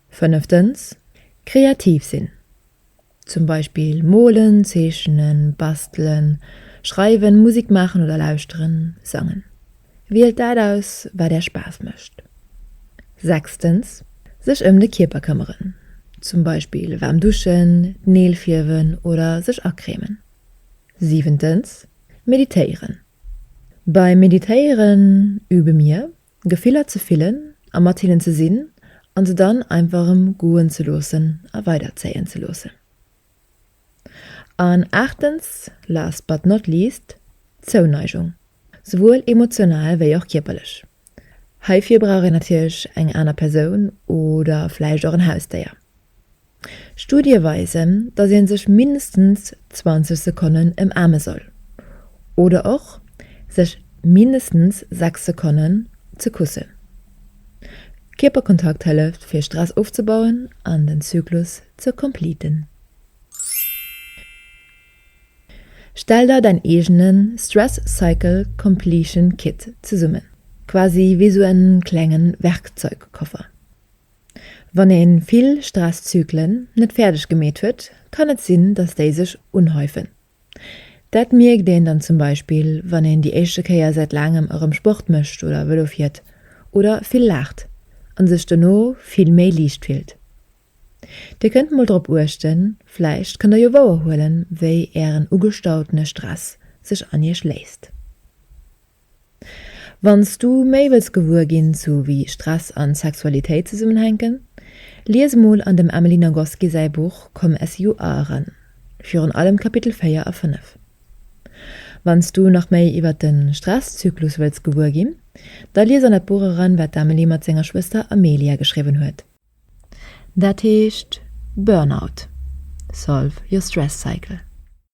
Fënneftens, Kreativ sinn. Zum Beispill molen, zeechnen, bastelen, schreiwen, Musik maachen oder lauschteren, sangen. Wielt dat aus, wat Är Spaass mécht. Sechstens, Sech ëm de Kierper këmmeren, zum Beispill waarm duschen, d'Neel fierwen oder sech acremen. Siwentens, Meditéieren. Beim Meditéieren übe mir, Gefiller ze fillen a mat hinnen ze sinn a se dann einfach erëm goen ze loossen a weiderzéien ze loossen. An aachtens, last but not least, d'Zouneigung, souwuel emotional wéi och kierperlech. Heifir brauch een natierlech eng aner Persoun oder vläicht och en Hausdéier. Studie weisen, dass ee sech mindestens 20 Sekonnen ëmaarme soll oder och sech mindestens 6 Sekonnen ze kussen. Kierperkontakt hëlleft fir Stress ofzebauen an den Zyklus ze compleeten. Stell der däin eegene Stress Cycle Completion Kit zesummen, quasi wéi sou e klengen Werkzeugkoffer. Wann ee vill Stresszyklen net fäerdeg gemeet huet, kann et sinn, datt déi sech unhäufen. Dat mierkt een dann zum Beispill, wann een déi éischte Kéier säit laangem erëm Sport mécht oder Vëlo fiert oder vill laacht a sech dono vill méi liicht fillt. Dir kënnt mol drop uechten, vläicht kënnt der jo wouer huelen, wéi ären ugestautene Stress sech an iech léisst. Wanns du méi wëlls gewuer ginn zu wéi Stress an Sexualitéit zesummenhänken, lies emol an dem Emily Nagoski säi Buch Comme SU A eran, virun allem d'Kapitel 4 a 5. Wanns du nach méi iwwert den Stresszyklus wëlls gewuer ginn, da lies an dat Buch eran wat d'Emily mat senger Schwëster Amelia geschriwwen huet. Dat heescht Burnout, Solve your stress cycle.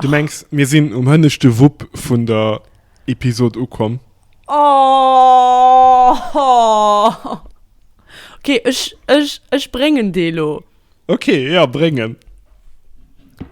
Du mengs mir sinn um hënneschte Wupp vun der Episode ukomm? Oh, oh. Okay, ech, ech, ech bréngen dee lo. Okay, ja, bréng en.